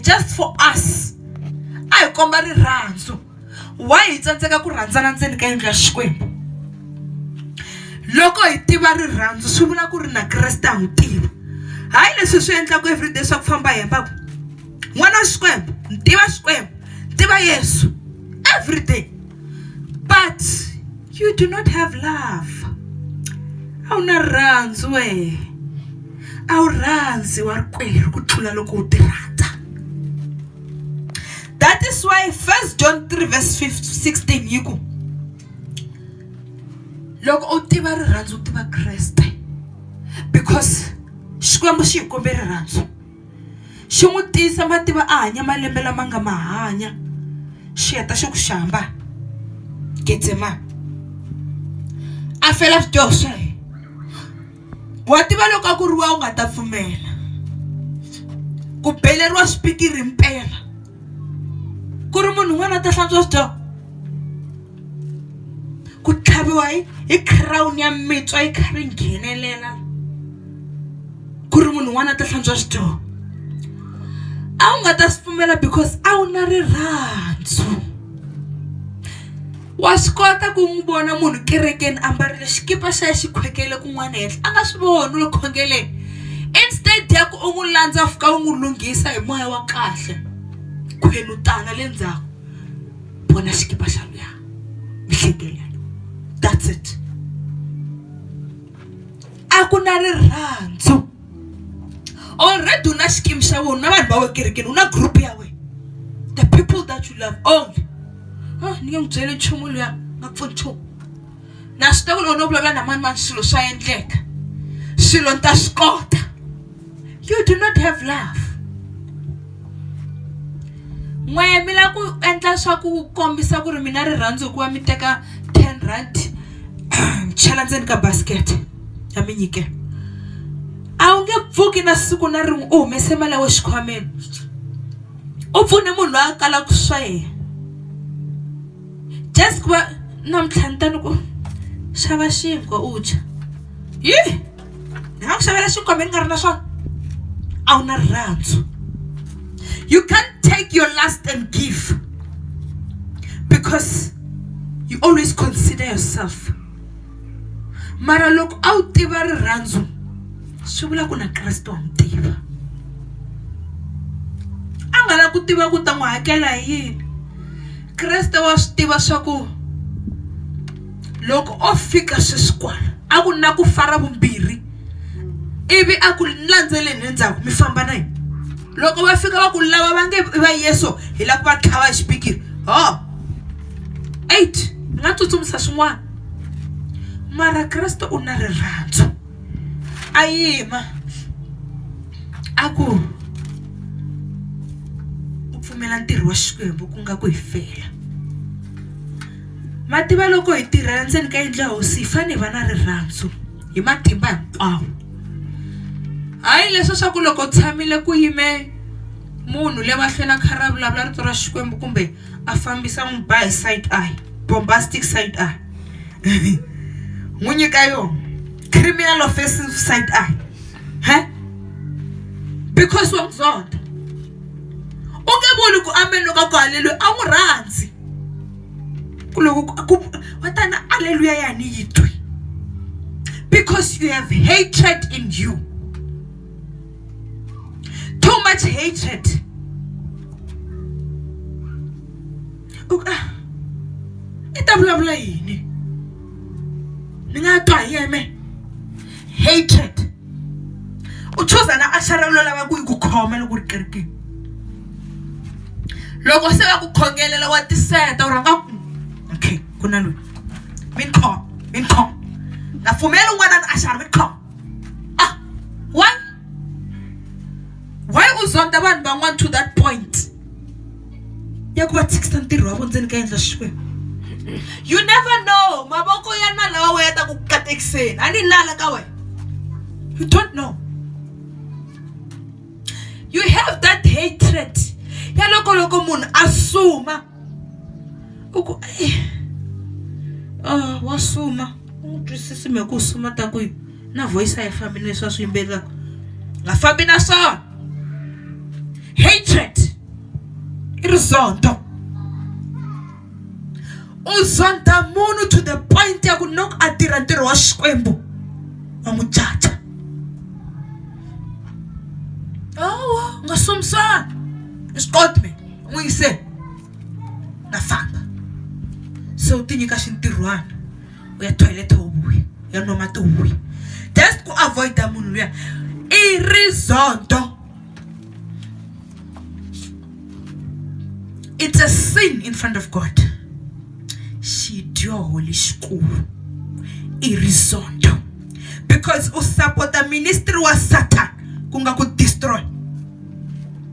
just for us a hi komba rirhandzu why hi tsandzeka ku rhandzana ndzeni ka yindlu ya xikwembu loko hi tiva rirhandzu swi vula ku ri na kreste a n'wi tiva hayi leswi swi endlaka everyday swa ku famba hi hemba ku n'wana wa xikwembu ni tiva xikwembu ni tiva yesu everyday but you do not have love a wu na rirhandzu wehe a wu rhandzi wa rikwerhu ku tlula loko u ti rhandza that is why first john 3 verse 16 yi ku loko u tiva rirhandzu u tiva kreste because xikwembu xi hi kombe rirhandzu xi n'wi tiyisa mativa a hanya malembe lama nga ma hanya xi heta xi ku xamba Getsemane a fela swidyoho swa yena wa tiva loko a ku ri wa u nga ta pfumela ku beleriwa swipikiri mpela. ku ri munhu un'wana a ta hlantswa swidyoho ku tlhaviwa hi hi crown ya mitswa yi kha ri nghenelela ku ri munhu un'wana a ta hlantswa swidyoho a wu nga ta swi pfumela because a wu na rirhandzu. wa swi kota ku n'wi vona munhu kerekeni a mbarile xikipa xa ya xikhwekele kun'wana henhla a nga swi voni u le khongeleni instead ya ku u n'wi landza fika u n'wi lunghisa hi moya wa kahle khwenu tana le ndzhaku vona xikipa xa luya mi hlekelela that's it a ku na rirhandzu already u na xikimu xa wena na vanhu va wena kerekeni u na group ya wena the people that you love only ah, ni nge n'wi byeli nchumu luya nga pfuni nchumu na swi tiva ku loko no vulavula na mani mani swilo swa endleka swilo ni ta swi kota you do not have love n'wehe mi lava ku endla swa ku kombisa ku ri mina rirhandzu hikuva mi teka ten rand chela ndzeni ka basket ya mi nyikela a wu nge pfuki na siku na rin'we u humese mali ya we xikhwameni u pfune munhu loyi a kalaka swa yena just ku va namuntlha ni ta ni ku xava xinkwa u dya yi ni nga ku xavela xinkwa mi ni nga ri na swona a wu na rirhandzu you can't take your last and give because you always consider yourself mara loko a wu tiva rirhandzu swi vula ku na Kriste wa n'wi tiva a nga la ku tiva ku ta n'wi hakela hi yini Kriste wa swi tiva swa ku loko o fika sweswi kwala a ku na ku fara vumbirhi ivi a ku landzeleni endzhaku mi famba na yini loko va fika va ku lava va nge va yeso hi lava ku va tlhava hi xipikiri ho eight ni nga tsutsumisa swin'wana mara Kreste u na rirhandzu a yima a ku u pfumela ntirho wa Xikwembu ku nga ku hi fela ma tiva loko hi tirhela ndzeni ka yindlu ya hosi hi fanele hi va na rirhandzu hi matimba hinkwawo hayi leswi swa ku loko u tshamile ku yime munhu le mahlweni a kha ra vulavula rito ra Xikwembu kumbe a fambisa n'wi ba hi side eye bombastic side eye n'wi nyika yona criminal offensive side eye he because wa n'wi zonda u nge vuli ku amen loko a ku haleluya a n'wi rhandzi ku loko ku wa tana aleluya ya ni yi twi because you have hatred in you too much hatred u ah, i ta vulavula yini ni nga twa hi yeme hatred u chuza na axara lo lava ku yi ku khoma loko ri kerikini loko se va ku khongelela wa tiseta u rhanga ku okay ku na loyi mi ni khoma mi ni khoma nga pfumeli un'wana na axara mi ni khoma ah why why u zonda vanhu van'wana to that point ya ku va tshikisa ntirho wa vo ndzeni ka endla xikwembu you never know mavoko ya nala wa wena ta ku katekiseni a ni nala ka wena you don't know you have that hatred ya loko loko munhu a suma u ku i wa suma u n'wi twisisa mhaka ku suma ta ku yini na voice a yi fambi na leswi a swi yimbelelaka a nga fambi na swona hatred i rizondho u zonda munhu to the point ya ku loko a tirha ntirho wa xikwembu wa n'wi caca awa u nga somisani swi koti mina n'wi yise na famba se u ti nyika xintirhwana u ya toilet u vuya ya nwa mati u vuya just ku avoid-a munhu luya i rizondho it's a sin in front of god xidyoho lexikulu i rizondho because u sapota ministry wa satan ku nga ku destroy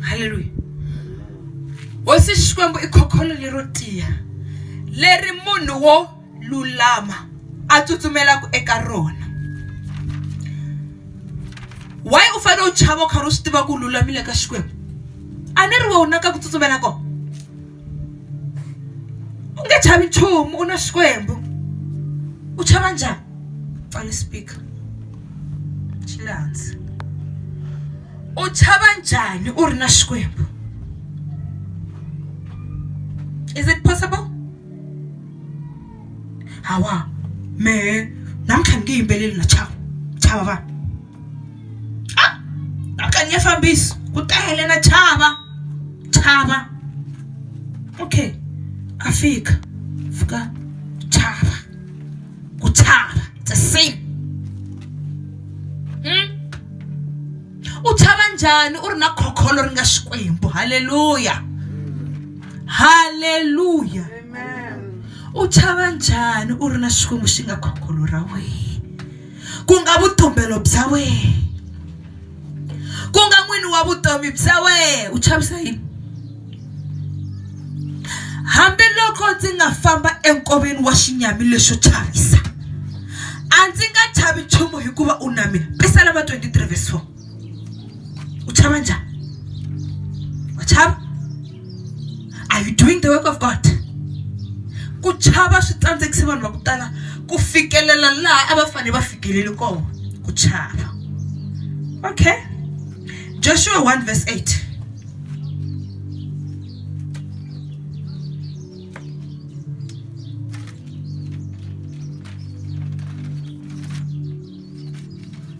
halleluya hosi xikwembu i khokholo lero tiya leri munhu wo lulama a tsutsumelaka eka rona why u fanele u chava u karhi u swi tiva ku lulamile ka xikwembu a ni ri wona ka ku tsutsumela kona u nge chavi nchumu u na xikwembu u chava njhani pfala speaker xi le hansi u chava njhani u ri na xikwembu is it possible hawa mehe namuntlha ni nge yimbeleli na chava chava vanhu. a a ka ni nge fambisi ku tele na chava chava okay a fika fika chava ku chava it's a sin Hmm? u chava njhani u ri na khokholo ri nga xikwembu halleluya halleluya u chava njhani u ri na xikwembu xi nga khokholo ra wena ku nga vutumbelo bya wena ku nga n'wini wa vutomi bya wena u chavisa yini hambiloko ndzi nga famba enkoveni wa xinyami lexo chavisa a ndzi nga chavi nchumu hikuva u na mina pisalama 23 vs 4 uchava njhani wa chava are you doing the work of god ku chava swi tsandzekise vanhu va ku tala ku fikelela laha a va fanele va fikeleli kona ku chava okay joshua 1 verse 8 Joshua 1 verse 8.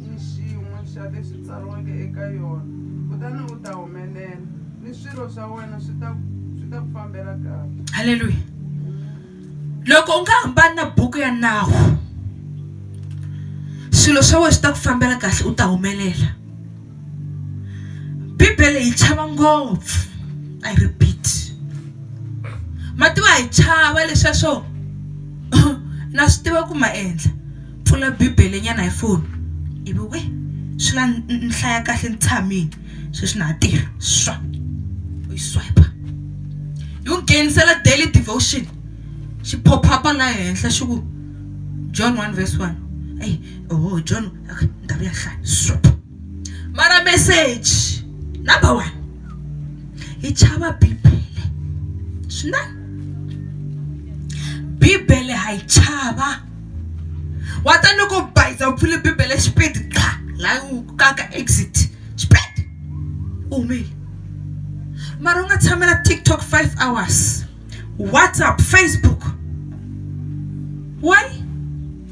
ni xin'we xa leswi tsariweke eka yona, kutani u ta humelela, ni swilo swa wena swi ta swi ta ku fambela kahle. Haleluya. Loko u nga hambani na buku ya nawu, swilo swa wena swi ta ku fambela kahle u ta humelela. Bibele yi chava ngopfu, I repeat. Ma tiva hi chava leswiya swo na swi tiva ku ma endla. pfula bibele nyana hi foni ivi we swi la ni hlaya kahle ni tshamile sweswi na ha tirha swa u yi swipe yi n'wi nghenisela daily devotion xi pop-up-a la henhla xi ku john one verse one eyi oho john okay ni ta vuya hlaya swipe mara meseji number one hi chava bibele swinene bibele ha yi chava wa ta ni ku bayiza u pfule bibele xipidi qa laha u kaka exit xipidi u humile mara u nga tshamela tiktok five hours whatsapp facebook why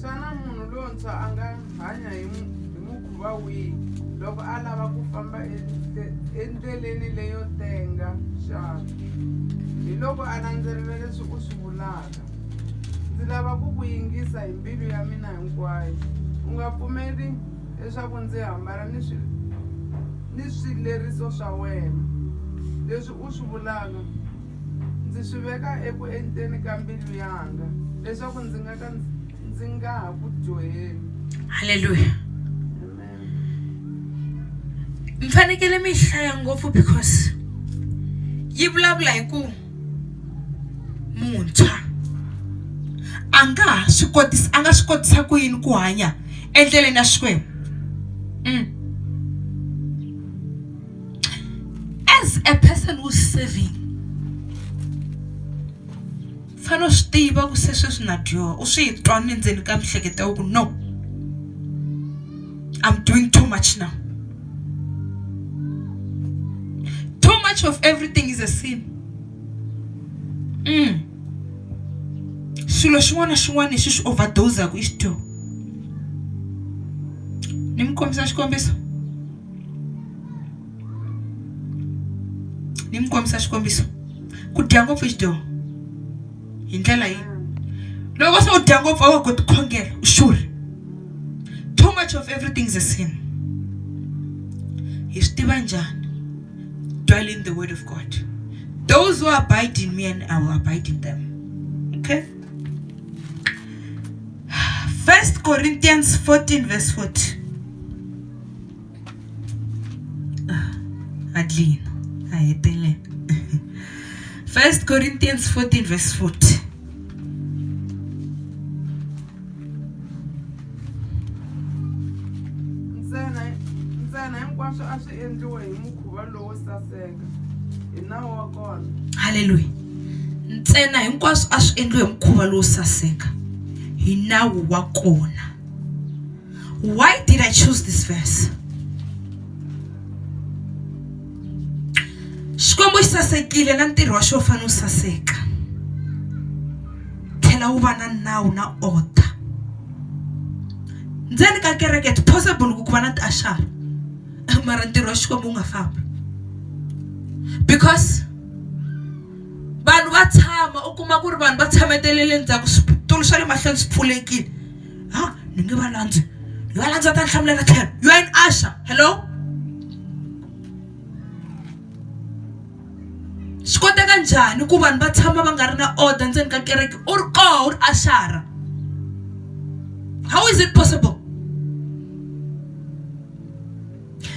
Xana munhu lontshwa a nga hanya hi hi mukhuva wihi loko a lava ku famba endleleni leyo tenga xana hi loko a landzelela leswi u swi vulaka ndzi lava ku ku yingisa hi mbilu ya mina hinkwayo u nga pfumeli leswaku ndzi hambana ni swi ni swileriso swa wena leswi u swi vulaka Ndzi swi veka eku enteni ka mbilu yanga leswaku ndzi nga ka ndzi nga ha ku dyoheli. Hallelujah. Mi fanekele mi hlaya ngopfu because yi vulavula hi ku muntshwa a nga ha swi kotisa a nga swi kotisa ku yini ku hanya endleleni ya Xikwembu. Mm. as a person who's serving u fanele u swi tiva ku se sweswi na dyoha u swi twa ni ndzeni ka miehleketo ya wena ku no I'm doing too much now too much of everything is a sin mm. swilo xin'wana na xin'wana lexi xi overdose-aku i xidyoho ni mi kombisa xikombiso ni mi kombisa xikombiso ku dya ngopfu xidyoho hi ndlela yi loko se u dya ngopfu a wa koti khongela u xurhi too much of everything is a sin hi swi tiva njhani dwell in the word of god those who abide in me and i will abide in them okay first corinthians 14 verse 40 adlin a hetelela first corinthians 14 verse 40 ntsena ntsena hinkwaswo a swi endliwe hi mukhuva lowo saseka hi nawu wa kona halleluya ntsena hinkwaswo a swi endliwe hi mukhuva lowo saseka hi nawu wa kona Why did I choose this verse? Xikwembu xi sasekile na ntirho wa xo fana u saseka. Tlhela wu va na nawu na order. Ndzeni ka kereke it's possible ku ku va na tiashara mara ntirho wa Xikwembu wu nga fambi. Because vanhu va tshama u kuma ku ri vanhu va tshametelele ndzhaku switulu swa le mahlweni swi pfulekile. ha ni nge va landzi ni va landza ta ni hlamulela tlhelo yo yini asha hello swi koteka njhani ku vanhu va tshama va nga ri na order ndzeni ka kereke u ri koho u ri axara how is it possible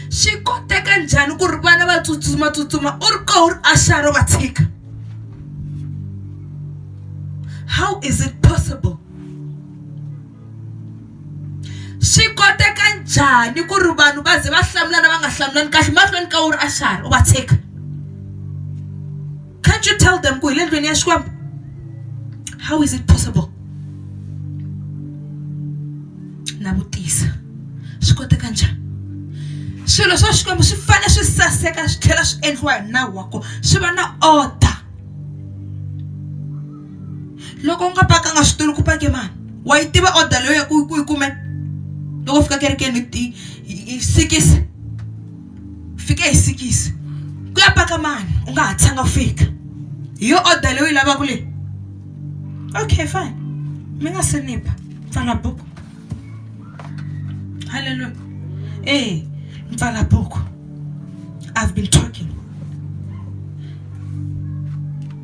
swi koteka njhani ku ri vana va tsutsumatsutsuma u ri koho u ri axaro va tshika how is it possible swi koteka njhani ku ri vanhu va ze va hlamulana va nga hlamulani kahle mahlweni ka wu ri axaro u va tshika Can't you tell them ku hi le ndlwini ya Xikwembu? How is it possible? Na vutisa swi koteka njhani? Swilo swa Xikwembu swi fanele swi saseka swi tlhela swi endliwa hi nawu wa kona swi va na order. Loko u nga pakanga switulu ku pake mani? Wa yi tiva order leyi u ya ku yi kumeke loko u fika kerekeni hi sikisi? fike hi sikisi ku ya paka mani u nga ha tshanga ku fika hi yo order leyi u yi lavaka leyi okay fine mi nga se ni ba pfala buku halleluya ee pfala buku i've been talking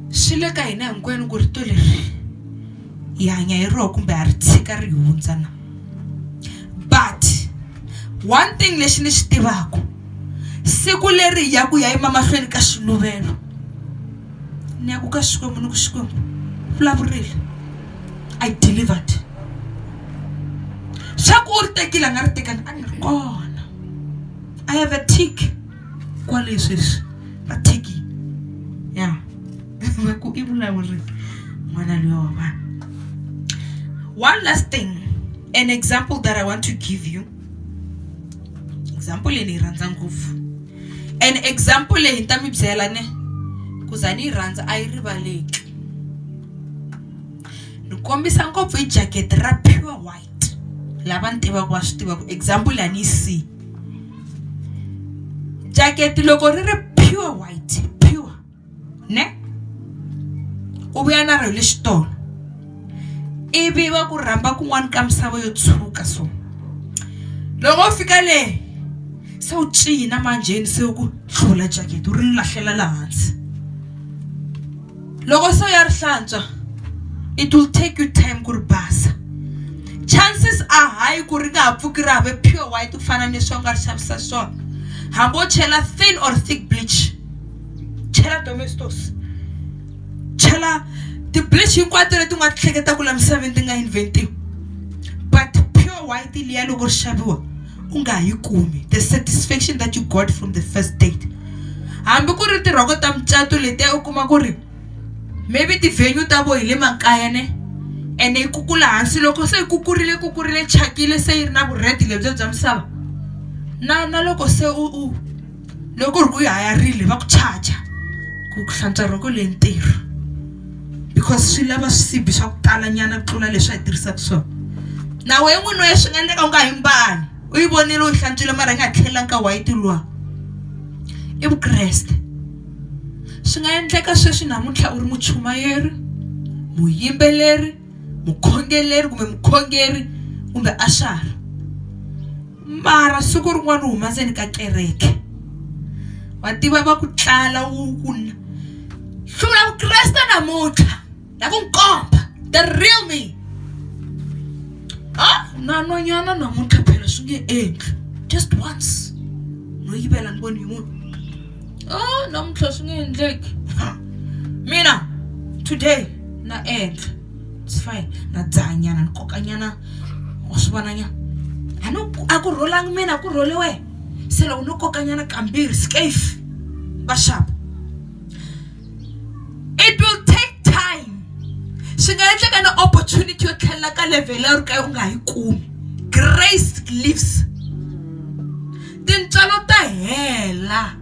swi le ka hina hinkwenu ku rito leri hi hanya hi roho kumbe ha ri tshika ri hi hundza na but one thing lexi ni xi tivaka siku leri hi yaku hi ya yima mahlweni ka xiluvelo ni yaku ka xikwembu ni ku xikwembu vulavurile i delivered xa ku u ri tekile a nga ri tekani a ni ri kona i have a tick kwale sweswi va thiki ya yeah. va ku i vulawuri n'wana luya wa vanhu one last thing an example that i want to give you example leyi ni yi rhandza ngopfu an example leyi ni ta mi byela ne ku za ni yi rhandza a yi rivaleki ni kombisa ngopfu hi jacket ra pure white lava ni tivaka va swi tivaka example leyi a ni yi siyi jacket loko ri ri pure white ne u vhuya na rali xitolo i vi va ku rhamba kun'wana ka misava yo tshuka so loko wo fika le se wu cina manjheni se ku hlula jacket u ri ni lahlela laha hansi loko se u ya ri hlantswa it will take you time ku ri basa chances a high ku ri nga ha pfuki ra ha ve pure white ku fana ni leswi a wu nga ri xavisa swona hambi wo chela thin or thick bleach. chela domestos chela tiblish hinkwato leti nga ti hleketaka la misaveni ti nga inventiwa but pure white liya loko ri xaviwa u nga yi kumi the satisfaction that you got from the first date hambi ku ri tirhoko ta mucato letiya u kuma ku ri maybe ti-venue ta vo hi le makaya ne ene yi kukula hansi loko se yi kukurile kukurile chakile se yi ri na vurhedi lebyo bya misava na na loko se u u loko ku ri ku yi hayarile va ku charger ku ku hlantswa rhoko leyi ntirho because swi lava swisibi swa ku tala nyana ku tlula leswi a yi tirhisaka swona na wena n'wini wena swi nga endleka u nga yi mbali u yi vonile u yi hlantswile mara yi nga tlhelela nkarhi wa yi ti lwa i vukreste swi nga endleka sweswi namuntlha u ri muchumayeri muyimbeleri mukhongeleri kumbe mukhongeri kumbe a xara mara siku rin'wana u huma ndzeni ka kereke wa tiva va ku tlala wu ku hlula vukreste namuntlha ya ku nkomba the real me ha na nwanyana namuntlha phela swi nge endli just once no yivela ni voni yin'wana oh namuntlha swi nge endleki mina today na endla it's fine na dzaha nyana ni koka nyana wa swi vona nyana a no a ku rholanga mina a ku rhole wehe se loko no koka nyana kambirhi skafe vaxapu it will take time swi nga endleka na opportunity yo tlhelela ka level ya ri ka u nga yi kumi grace lives tintswalo ta hela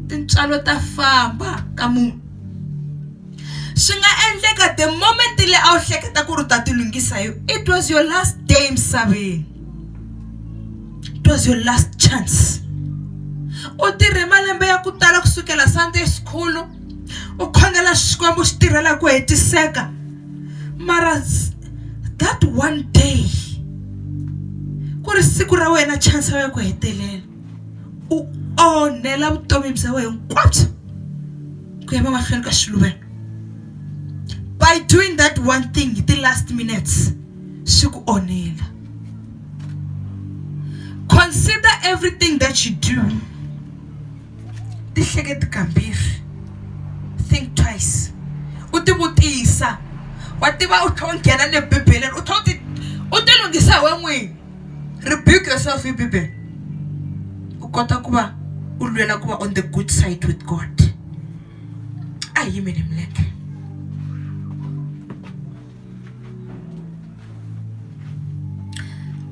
tintswalo ta famba ka munhu swi nga endleka the moment le a wu hleketa ku ri u ta ti lunghisa yo it was your last day emisaveni it was your last chance u tirhe malembe ya ku tala ku sukela sunday school u khongela xikwembu xi tirhela ku hetiseka mara that one day ku ri siku ra wena chance ya ku hetelela u onhela vutomi bya wena hinkwabyo ku ya mamahlweni ka xiluvelo by doing that one thing hi ti-last minutes swi ku onhela consider everything that you do tihleketi kambirhi think twice u tivutisa wa tiva u tlhe u nghena le bibeleni u tlhe u ti u tilunghisa hi we n'wini rebuke yourself hi bibele u kota ku va u lwela ku va on the good side with god a hi yimele milenge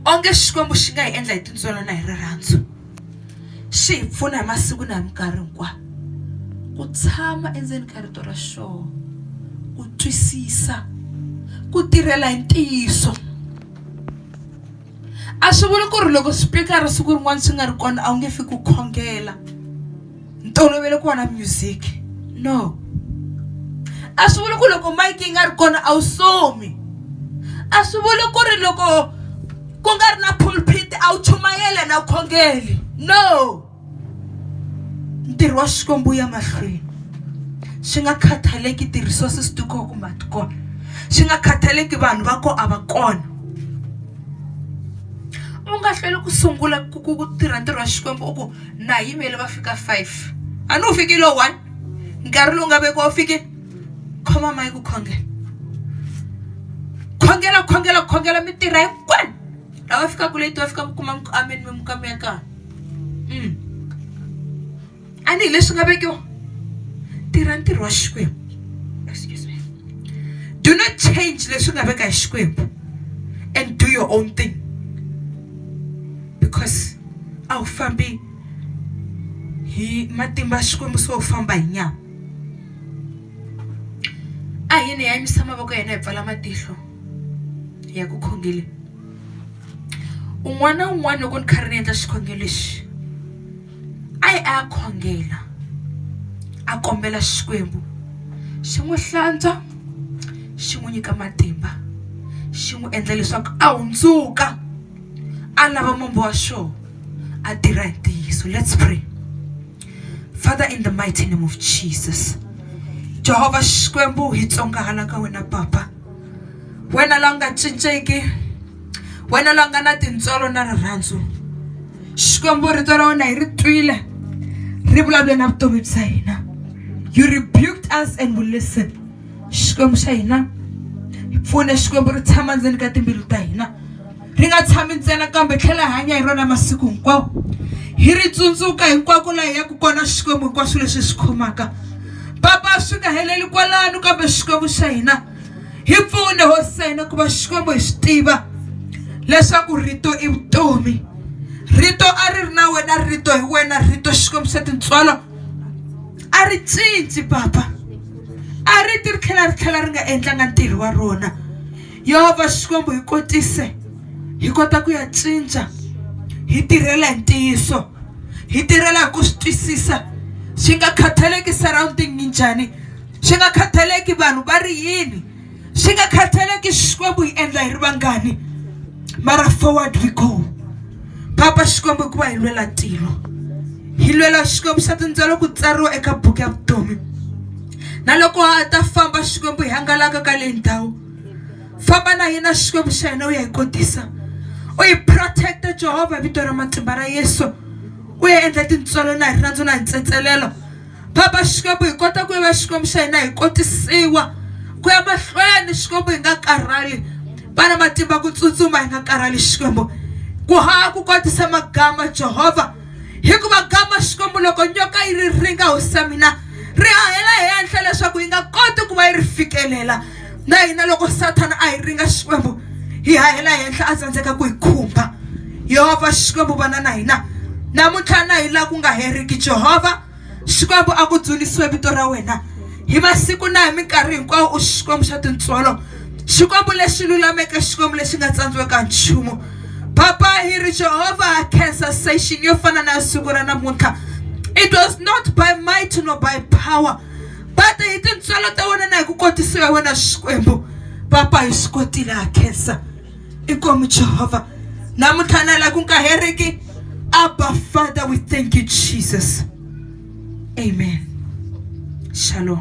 onge xikwembu xi nga hi endla hi tintswalo na hi rirhandzu xi hi pfuna hi masiku na hi minkarhi hinkwayo ku tshama endzeni ka rito ra xoho ku twisisa ku tirhela hi ntiyiso a swi vuli ku ri loko swipikara siku rin'wana swi nga ri kona a wu nge fi ku khongela ntolovelo ku vona music no a swi vuli ku loko mayiki yi nga ri kona a wu somi a swi vuli ku ri loko ku nga ri na pulpit a wu chumayela na khongeli no ntirho wa xikwembu wu ya mahlweni swi nga khathaleki ti-resources ti koho kumbe a ti kona swi nga khathaleki vanhu va ko a va kona u nga hlweli ku sungula ku ku ku tirha ntirho wa xikwembu u ku na yimele va fika five a ni wu fikile one nkarhi lowu nga vekiwa wu fikile khoma mayi ku khongela khongela khongela khongela mi tirha hinkwenu Awafika kule to fika kuma ku amen mi muka mi ya ka. Mm. Ani hi leswi nga vekiwa. Tirha ntirho wa Xikwembu. Excuse me. Do not change leswi nga veka hi Xikwembu and do your own thing. Because a wu fambi hi matimba ya Xikwembu so u famba hi nyama. A hi ni yanyisa mavoko ya hina hi pfala matihlo. ya ku khongele un'wana na un'wana loko ni kha ri ni endla xikhongelo lexi a yi a ya khongela a kombela xikwembu xi n'wi hlantswa xi n'wi nyika matimba xi n'wi endla leswaku a hundzuka a lava mombo wa xona a tirha hi ntiyiso let's pray father in the mighty name of jesus jehovha xikwembu hi tsongahala ka wena papa wena la nga cinciki wena la nga na tintswalo na rirhandzu xikwembu rito ra wena hi ri twile ri vulavule na vutomi bya hina you rebuked us and we listen xikwembu xa hina hi pfune xikwembu ri tshama ndzeni ka timbilu ta hina ri nga tshami ntsena kambe hi tlhela hi hanya hi rona masiku hinkwawo hi ri tsundzuka hinkwako laha hi yaka kona xikwembu hinkwaswo leswi hi swi khomaka papa swi nga heleli kwalano kambe xikwembu xa hina hi pfune hosena ku va xikwembu hi swi tiva leswaku rito i vutomi rito a ri ri na wena rito hi wena rito xikwembu xa tintswalo a ri cinci papa a ri ti ri tlhela ri tlhela ri nga endlanga ntirho wa rona yehova xikwembu hi kotise hi kota ku ya cinca hi tirhela hi ntiyiso hi tirhela hi ku swi twisisa swi nga khathaleki surrounding yi njhani swi nga khathaleki vanhu va ri yini swi nga khathaleki xikwembu hi endla hi ri vangani mara forward we go papa xikwembu hikuva hi lwela tilo hi lwela xikwembu xa tindzwelo ku tsariwa eka buku ya vutomi na loko ha ta famba xikwembu hi hangalaka ka leyi ndhawu famba na hina xikwembu xa hina u ya hi kotisa u hi protect-a jehovha vito ra matimba ra yesu u ya endla tintswalo na hi rirhandzu na hi ntsetselelo papa xikwembu hi kota ku ya va xikwembu xa hina hi kotisiwa ku ya mahlweni xikwembu hi nga karhali va na matimba ku tsutsuma hi nga karhali xikwembu ku ha ku kotisa magama jehovha hikuva gama xikwembu loko nyoka yi ri ringa hosi ya mina ri hahela henhla leswaku yi nga koti ku va yi ri fikelela na hina loko sathana a hi ringa xikwembu hi hahela henhla a tsandzeka ku hi khumba yehovha xikwembu vana na hina namuntlha na hi laha ku nga heriki jehovha Xikwembu a ku dzunisiwe vito ra wena hi masiku na hi minkarhi hinkwawo u xikwembu xa tintswalo xikwembu lexi lulameke xikwembu lexi nga tsandziweka nchumu papa hi ri jehovha cancer station yo fana na siku ra namuntlha it was not by might no by power but hi tintswalo ta wena na hi ku kotisiwa hi wena xikwembu papa hi swi kotile ha cancer i kwemu jehovha namuntlha na laha ku nga heriki abba father we thank you jesus amen shalom